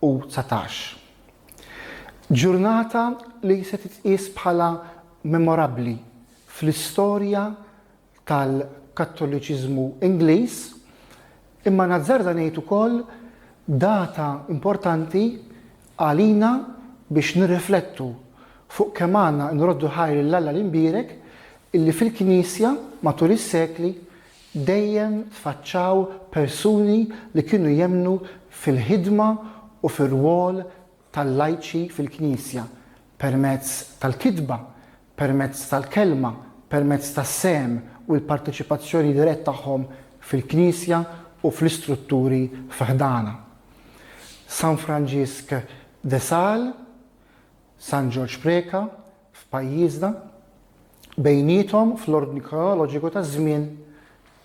u dsatax. Ġurnata li se titqies bħala memorabbli fl-istorja tal-Kattoliċiżmu Ingliż, imma nazzarda ngħid ukoll data importanti għalina biex nirriflettu fuq kemm għandna nroddu ħajr lil Alla l-Imbierek illi fil-Knisja matul is-sekli Dejjem tfaċċaw persuni li kienu jemmnu fil-ħidma u fir-rwol tal-lajċi fil-Knisja, permezz tal-kitba, permezz tal-kelma, permezz tas-sehem u l-parteċipazzjoni dirett tagħhom fil-Knisja u fl-istrutturi fi ħdanha. San Franġisk de Sales. San Ġorġ Preca f'pajjiżna, bejniethom fl-ordni kronoloġiku taż-żmien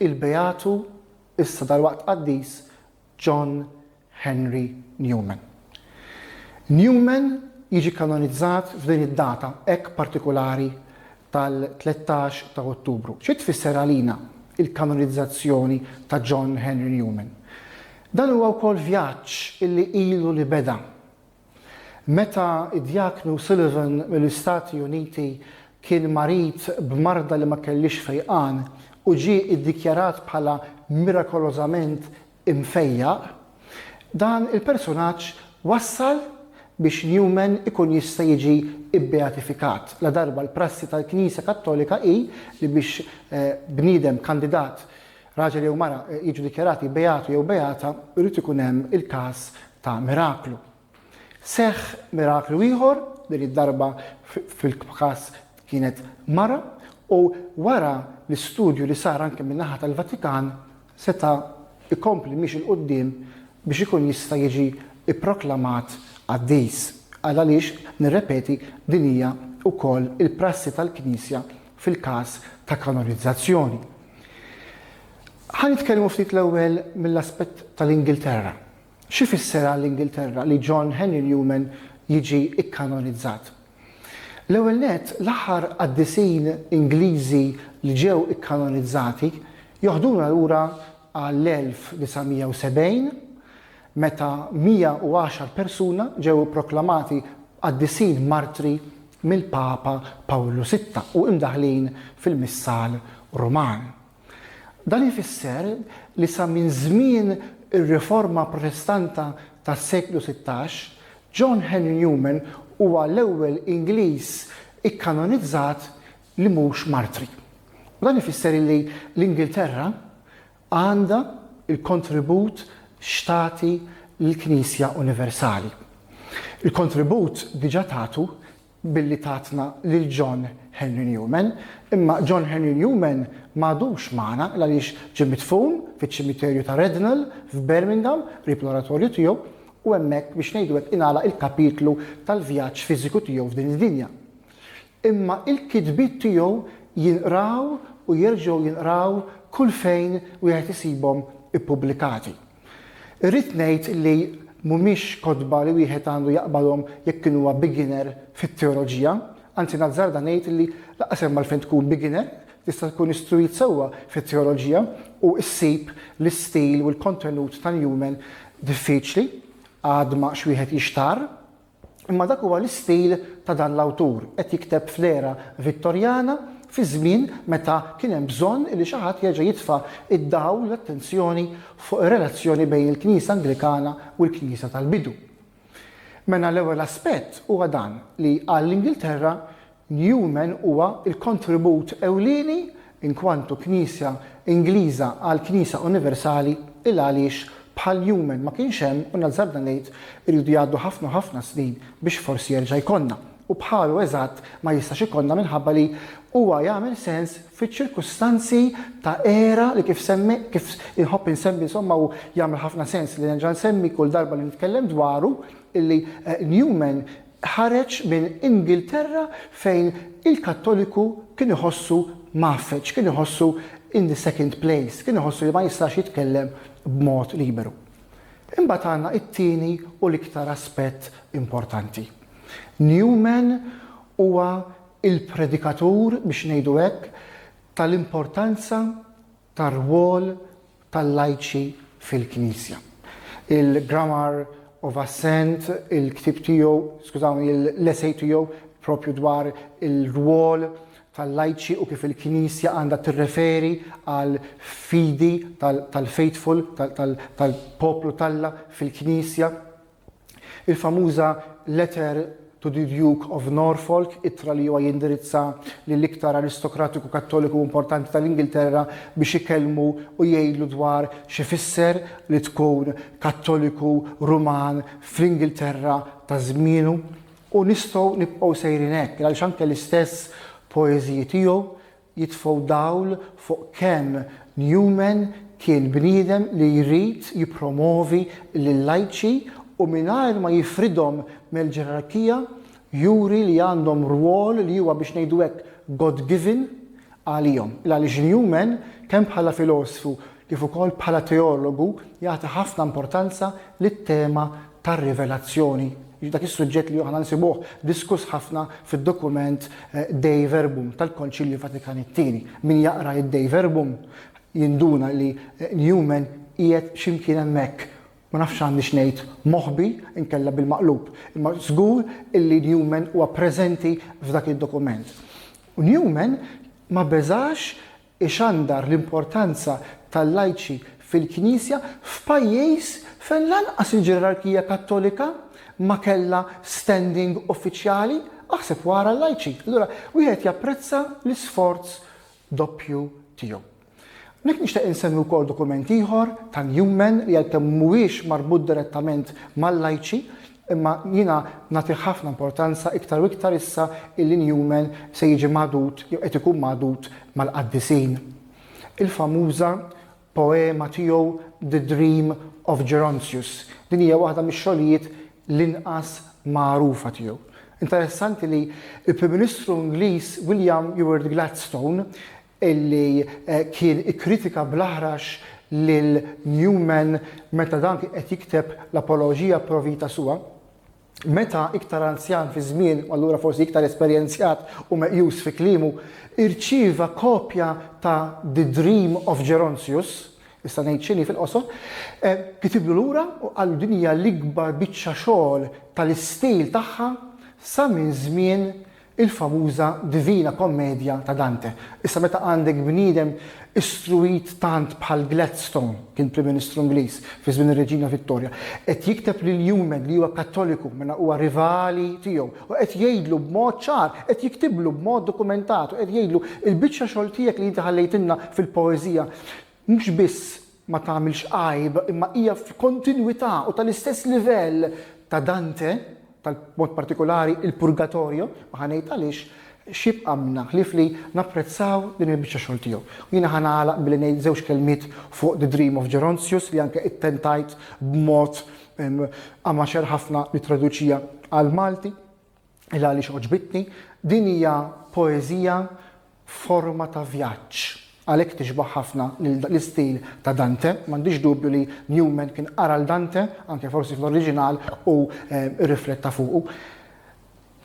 il-Beatu issa dalwaqt qaddis John Henry Newman. Newman jiġi kanonizzat f'din id-data hekk partikulari tal-tlettax ta' Ottubru. Xi tfisser għalina l-kanonizzazzjoni ta' John Henry Newman? Dan huwa wkoll vjaġġ li ilu li beda Meta d-Djaknu Sullivan mill-Istati Uniti kien marid b'marda li ma kellhiex fejqan u ġie iddikjarat bħala mirakolożament imfejjaq, dan il-persunaġġ wassal biex Newman ikun jista' jiġi bbeatifikat, ladarba l-prassi tal-Knisja Kattolika hi li biex bniedem kandidat Raġel jew mara jiġu dikjarati beatu jew beata, irid ikun hemm il-każ ta' miraklu. Seħħ miraklu ieħor, din id-darba fil-każ kienet mara, u wara l-istudju li sar anke min-naħa tal-Vatikan seta' jkompli miexi 'l quddiem biex ikun jista' jiġi pproklamat qaddis. Għal għaliex, nirrepeti, din hija wkoll il-prassi tal-Knisja fil-każ ta' kanonizzazzjoni. Ħa nitkellmu ftit l-ewwel mill-aspett tal-Ingilterra. Xi fisser għall-Ingilterra li John Henry Newman jiġi kkanonizzat? L-ewwel nett, l-aħħar qaddisin Ingliżi li ġew ikkanonizzati joħduna lura għall-1970, meta 110 persuna ġew ipproklamati qaddisin martri mill-Papa Pawlu Sitta u imdaħħlin fil-Missal Ruman. Dan ifisser li sa minn żmien ir-Riforma Protestanta tas-seklu sittax, John Henry Newman huwa l-ewwel Ingliż ikkanonizzat li mhux martri. U dan ifisser li l-Ingilterra għandha l-kontribut x'tagħti lill-Knisja Universali. Il-kontribut diġà tatu billi tatna lil John Henry Newman, imma John Henry Newman m'għadux magħna għaliex ġie midfun fiċ-ċimiterju ta' Rednal f'Birmingham qrib l-Oratorju tiegħu u hemmhekk biex ngħidu hekk ingħalaq il-kapitlu tal-vjaġġ fiżiku tiegħu f'din id-dinja. Imma l-kitbiet tiegħu jinqraw u jerġgħu jinqraw kull fejn wieħed isibhom ippubblikati. Irrid ngħid li mhumiex kotba li wieħed għandu jaqbalhom jekk kien huwa beginner fit-teoloġija, anzi nazzarda ngħid li lanqas hemm għalfejn tkun beginner, tista' tkun istruit sewwa fit-teoloġija u ssib l-istil u l-kontenut ta' Newman diffiċli, għadma x'wieħed jixtarr. Imma dak huwa l-istil ta' dan l-awtur, qed jikteb fl-era Vittorjana, fi żmien meta kien hemm bżonn li xi ħadd jerġa' jitfa' d-dawl, l-attenzjoni fuq ir-relazzjoni bejn il-Knisja Anglikana u l-Knisja tal-bidu. Mena l-ewwel aspett huwa dan li għall-Ingilterra Newman huwa l-kontribut ewlieni inkwantu Knisja Ingliża għal Knisja Universali il għaliex bħal Newman ma kienx hemm u nazzarda ngħid iridu jgħaddu ħafna u ħafna snin biex forsi jerġa' jkollna u bħalu eżatt ma jistax ikollna minħabba li huwa jagħmel sens fiċ-ċirkustanzi ta' era li kif semmi kif inħobb insemmi insomma u jagħmel ħafna sens li nerġa' nsemmi kull darba li nitkellem dwaru illi Newman ħareġ minn Ingilterra fejn il-Kattoliku kien iħossu mgħaffeġ, kien iħossu in the second place, kien iħossu li ma jistax jitkellem b'mod liberu. Imbagħad għandna t-tieni u l-iktar aspett importanti. Newman huwa l-predikatur, biex ngħidu hekk, tal-importanza tar-rwol tal-lajċi fil-Knisja. Il-Grammar of Assent, il-ktieb tiegħu, skużawni, l-essej tiegħu proprju dwar ir-rwol tal-lajċi u kif il-Knisja għandha tirreferi għal fidi tal-faithful, tal-poplu t'Alla fil-Knisja. Il-famuża Letter to the Duke of Norfolk, ittra li huwa jindirizza lill-iktar aristokratiku Kattoliku importanti tal-Ingilterra biex ikellmu u jgħidlu dwar x'ifisser li tkun Kattoliku Ruman fl-Ingilterra ta' żmienu. U nistgħu nibqgħu sejrin hekk, għaliex anke l-istess poeżiji tiegħu jitfgħu dawl fuq kemm Newman kien bniedem li jrid jippromovi l-lajċi u mingħajr ma jifridhom mel-ġerarkija, juri li għandhom rwol li huwa biex ngħidu hekk God-given għalihom. Il-għaliex Newman, kemm bħala filosfu kif ukoll bħala teologu jagħti ħafna importanza lit-tema tar-rivelazzjoni, dak is-suġġett li aħna nsibuh diskuss ħafna fid-dokument Dei Verbum tal-Konċilju Vatikan it-Tieni. Min jaqra id-Dei Verbum jinduna li Newman qiegħed xi mkien hemmhekk, ma nafx għandniex ngħid moħbi inkella bil-maqlub, imma żgur illi Newman huwa preżenti f'dak id-dokument. U Newman ma beżax ixandar l-importanza tal-lajċi fil-Knisja f'pajjiż fejn lanqas il-ġerarkija Kattolika ma kellha standing uffiċjali, aħseb wara l-lajċi. Allura wieħed japprezza l-isforz doppju tiegħu. Hawnhekk nixtieq insemmi wkoll dokument ieħor ta' Newman li għalkemm mhuwiex marbut direttament mal-lajċi, Imma jiena nagħtih ħafna importanza iktar u iktar issa illi Newman se jiġi magħdud jew qed ikun magħdud mal-qaddisin. Il-famuża poema tiegħu The Dream of Gerontius, din hija waħda mix-xogħlijiet l-inqas magħrufa tiegħu. Interessanti li l-Prim Ministru Ingliż William Ewart Gladstone illi kien ikkritika bl-aħrax lil Newman meta dan kien qed jikteb l-Apologia pro vita sua. Meta iktar anzjan fiż-żmien, u allura forsi iktar esperjenzjat u meqjus fi kliemu, irċieva kopja ta' The Dream of Gerontius, issa ngħid x'inhi fil-qosor, kitiblu lura u qallu din hija l-ikbar biċċa xogħol tal-istil tagħha sa minn żmien il-famuża Divina Kommedja ta' Dante. Issa meta għandek bniedem istruwit tant bħal Gladstone, kien Prim Ministru Ingliż fi żmien ir-Reġina Vittorja, qed jikteb lil Newman li huwa Kattoliku mela huwa rivali tiegħu u qed jgħidlu b'mod ċar, qed jiktiblu b'mod dokumentat u qed jgħidlu il-biċċa xogħol tiegħek li inti ħallejtilna fil-poeżija, mhux biss ma tagħmilx għajb imma hija f'kontinwità u tal-istess livell ta' Dante, ta' b'mod partikulari il-Purgatorio, u ħa ngħid għaliex, x'jibqa' minna ħlief li napprezzaw din il-biċċa xogħol tiegħu. U jiena ħa nagħlaq billi ngħid żewġ kelmiet fuq The Dream of Gerontius li anke ittentajt b'mod amaxer ħafna nittraduċiha għall-Malti. il għaliex għoġbitni, din hija poeżija f'forma ta' vjaġġ. Għalhekk tixbah ħafna l-istil ta' Dante. M'għandix dubju li Newman kien qara l Dante, anke forsi fl-oriġinal, u rrifletta fuqu.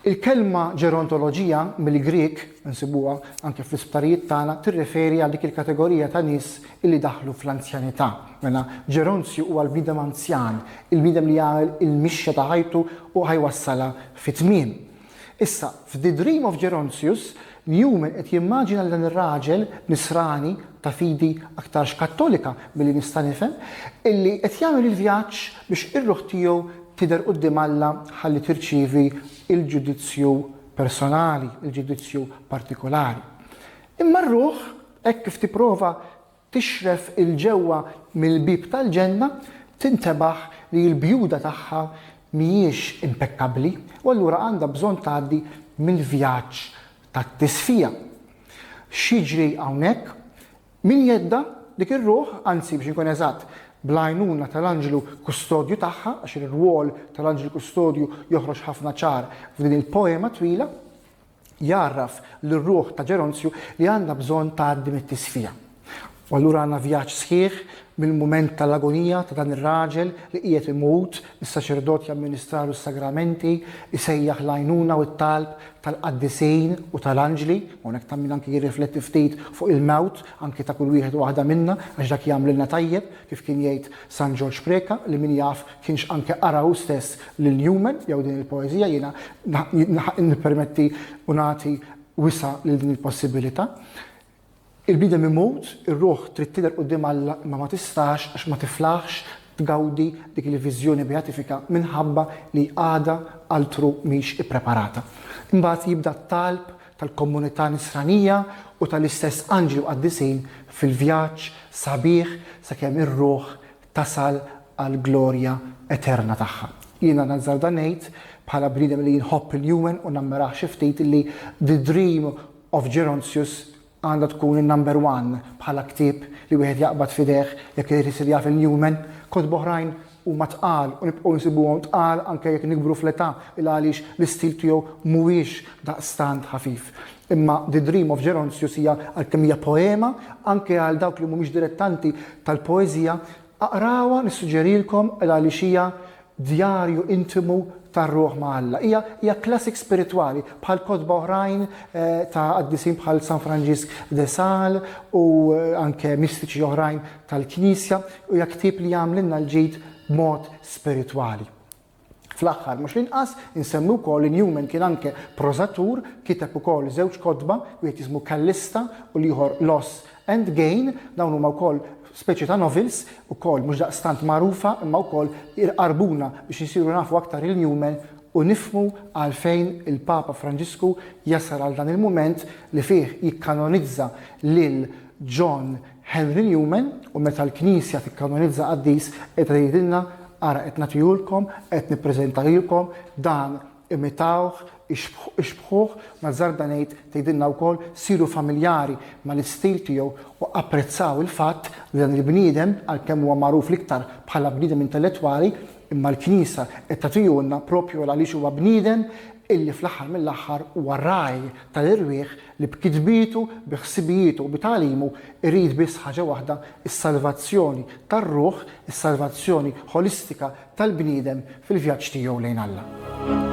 Il-kelma ġerontoloġija mill-Grieg, insibuha anke fl-isptarijiet tagħna, tirreferi għal dik il-kategorija ta' nies illi daħlu fl-anzjanità. Mela, ġeronzju huwa l-bniedem anzjan, il-bniedem li jagħmel il-mixja ta' ħajtu u ħa jwassalha fi tmiem. Issa, f'The Dream of Gerontius, Newman qed jimmaġina lil dan ir-raġel nisrani ta' fidi aktarx Kattolika milli nista' nifhem, illi qed jagħmel il-vjaġġ biex ir-ruħ tiegħu tidher quddiem Alla ħalli tirċievi l-ġudizzju personali, il-ġudizzju partikolari. Imma r-ruħ, hekk kif tipprova tixref 'il ġewwa mill-bieb tal-ġenna, tintebaħ li l-bjuda tagħha mhijiex impekkabbli u allura għandha bżonn tgħaddi mill-vjaġġ tat-tisfija. X'jiġri hawnhekk? Min jgħiddha? Dik ir-ruħ, anzi biex inkun eżatt, bl-għajnuna tal-anġlu kustodju tagħha, għax ir-rwol tal-anġlu kustodju joħroġ ħafna ċar f'din il-poema twila, jgħarraf lir-ruħ ta' Ġeronzju li għandha bżonn tgħaddi mit-tisfija. U allura għandna vjaġġ sħiħ mill-mument tal-agonija ta' dan ir-raġel li qiegħed imut, is-saċerdot jamministralu s-sagramenti, isejjaħ l-għajnuna u t-talb tal-qaddisin u tal-anġli, hawnhekk ta' min anki jirrifletti ftit fuq il-mewt anki ta' kull wieħed u waħda minna għax dak jagħmlilna tajjeb, kif kien jgħid San Ġorġ Preca, li min jaf kienx anke qara hu stess lil Newman jew din il-poeżija, jiena nippermetti u nagħti wisa' lil din il-possibilità. Il-bniedem imut, ir-ruħ trid tidher quddiem Alla imma ma tistax għax ma tiflaħx tgawdi dik il-viżjoni beatifika minħabba li għadha altru mhix ippreparata. Imbagħad jibda t-talb tal-komunità nisranija u tal-istess anġli u qaddisin fil-vjaġġ sabiħ sakemm ir-ruħ tasal għall-glorja eterna tagħha. Jiena nazzarda ngħid, bħala bniedem li nħobb il-Human u nammirah xi ftit, li The Dream of Gerontius għandha tkun in-number one bħala ktieb li wieħed jaqbad f'idejh jekk irid isir jaf il-Human. Kotba oħrajn Huma tqal u nibqgħu nsibuhom tqal anke jekk nikbru fl-età il għaliex l-istil tiegħu mhuwiex daqstant ħafif. Imma The Dream of Gerontius hija għalkemm hija poema, anke għal dawk li mhumiex dilettanti tal-poeżija, aqrawha nissuġġerilkom il għaliex hija djarju intimu tar-ruħ ma' Alla. Hija hija classic spiritwali bħal kotba oħrajn ta' qaddisin bħal San Franġisk de Sales u anke mistiċi oħrajn tal-Knisja hija ktieb li jagħmlilna l-ġid b'mod spiritwali. Fl-aħħar mhux l-inqas, insemmi wkoll li Newman kien anke prożatur, kiteb ukoll żewġ kotba, wieħed jismu Callista u l-ieħor Loss and Gain, dawn huma wkoll speċi ta' novels, ukoll mhux daqstant magħrufa imma wkoll irqarbuna biex insiru nafu aktar il Newman u nifmu għalfejn il-Papa Franġisku jasal għal dan il-mument li fih jikkanonizza lil John Henry Newman, U meta l-Knisja tikkanonizza qaddis, qiegħda tgħidilna, Ara qed nagħtihulkom, qed nippreżenta lilkom, dan, imitawh, ixbħuh, ma darba ngħid, tgħidilna wkoll, siru familjari mal-istil tiegħu u apprezzaw il-fatt li dan il-bniedem, għalkemm huwa magħruf l-iktar bħala bniedem intellettwali, imma l-Knisja qed tagħtihulna proprju għaliex huwa bniedem illi fl-aħħar mill-aħħar huwa ragħaj tal-irwieħ, li b'kitbietu, bi ħsibijietu u bi tagħlimu jrid biss ħaġa waħda, is-salvazzjoni tar-ruħ, is-salvazzjoni ħolistika tal-bniedem fil-vjaġġ tiegħu lejn Alla.